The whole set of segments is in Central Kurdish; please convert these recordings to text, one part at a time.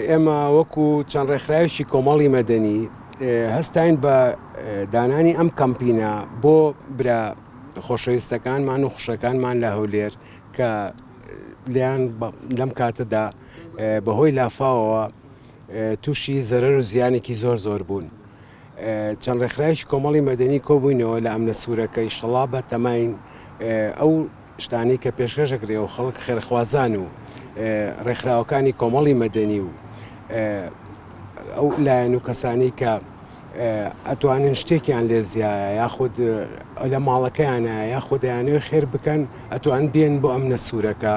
ئێمە وەکو چەند ڕێکخراوێکی کۆمەڵی مەدەنی هەستاین بە دانانی ئەم کەمپینە بۆ برا خۆشەویستەکانمان و خوشەکانمان لە هەولێر کە لیان لەم کاتەدا بەهۆی لافاوەوە تووشی زەرەر و زیانێکی زۆر زۆر بوون. چەند ڕێکخراوێکی کۆمەڵی مەدەنی کۆبووینەوە لە ئەمنە سوورەکە ئیشەڵا بە تەماین ئەو شتانی کە پێشکەش دەکرێ و خەڵک خێرخوازان و ڕێکخراوەکانی کۆمەڵی مەدەنی و ئەو لایەن و کەسانی کە ئەتوانن شتێکیان لێ زیایە یاخود لە ماڵەکەیانە یاخود دەیانەوە خێر بکەن ئەتوان بێن بۆ ئەمنە سوورەکە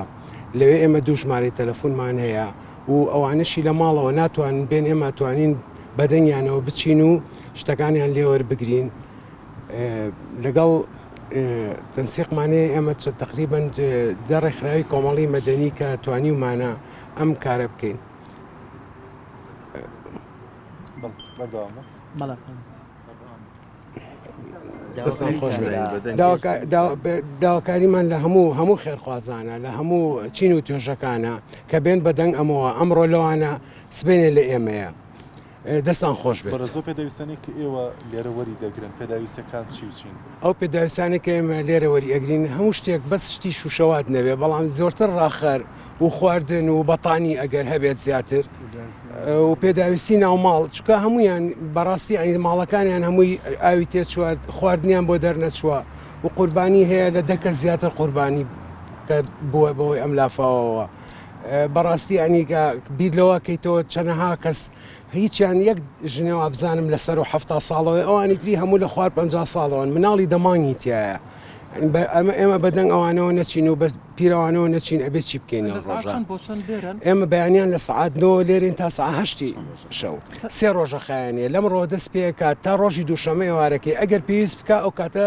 لەوێ ئێمە دوو ژمارەی تەلەفۆنمان هەیە و ئەوانەشی لە ماڵەوە ناتوانن بێن ئێمە توانین بەدەنگیانەوە بچین و شتەکانیان لێوەربگرین لەگەڵ تەنسیقمانێ ئێمە چ تقریبن دە ڕێکخراوی کۆمەڵی مەدەنی کە توانی ومانە ئەم کارە بکەین. بەڵێ. داواکاریمان لە هەموو هەموو خێرخوازانە لە هەموو چین و توێژەکانە کە بێن بە دەنگ ئەمەوە ئەمڕۆ لەوانە سبێنێ لە ئێمەیە دەستان خۆش بێت زۆ پێداویستانی کە ئێوە لێرە وەری دەگرن پێداویستەکان چی و چین ئەو پێداویستانی کە ئێمە لێرە وەری ئەگرین هەموو شتێک بەس شتی شوشەوات نەبێ بەڵام زۆرتر ڕاخەر و خواردن و بەتانی ئەگەر هەبێت زیاتر و پێداویستی ناوماڵ چکە هەمویان بەڕاستی ئەین ماڵەکانیان هەمووی ئاوی تێچوات خواردنیان بۆ دەرنەچووە و قوربانی هەیە لە دەکە زیاتر قوربانی کە بووە بەوەی ئەم لافاوەوە بەڕاستی ئەنیگا بیر لەوە کەیتەوە چەنەها کەس هیچیان یەک ژنە وابزانم لە سەرو حەفتا ساڵەوەی ئەوانی تری هەموو لە خوار پ ساڵەوەن مناڵی دەمانگی تایە ئەمە ئێمە بەدەنگ ئەوانەوە نەچین و بە پیرەوانەوە نەچین ئەبێ چی بکەین ئێمە بەیانیان لە سعاتەوە لێرین تا ساهشتی شەو سێ ڕۆژە خایەنە لەم ڕۆ دەست پێکات تا ڕۆژی دووشەمە ئێوارەکەی ئەگەر پێویست بکە ئەو کاتە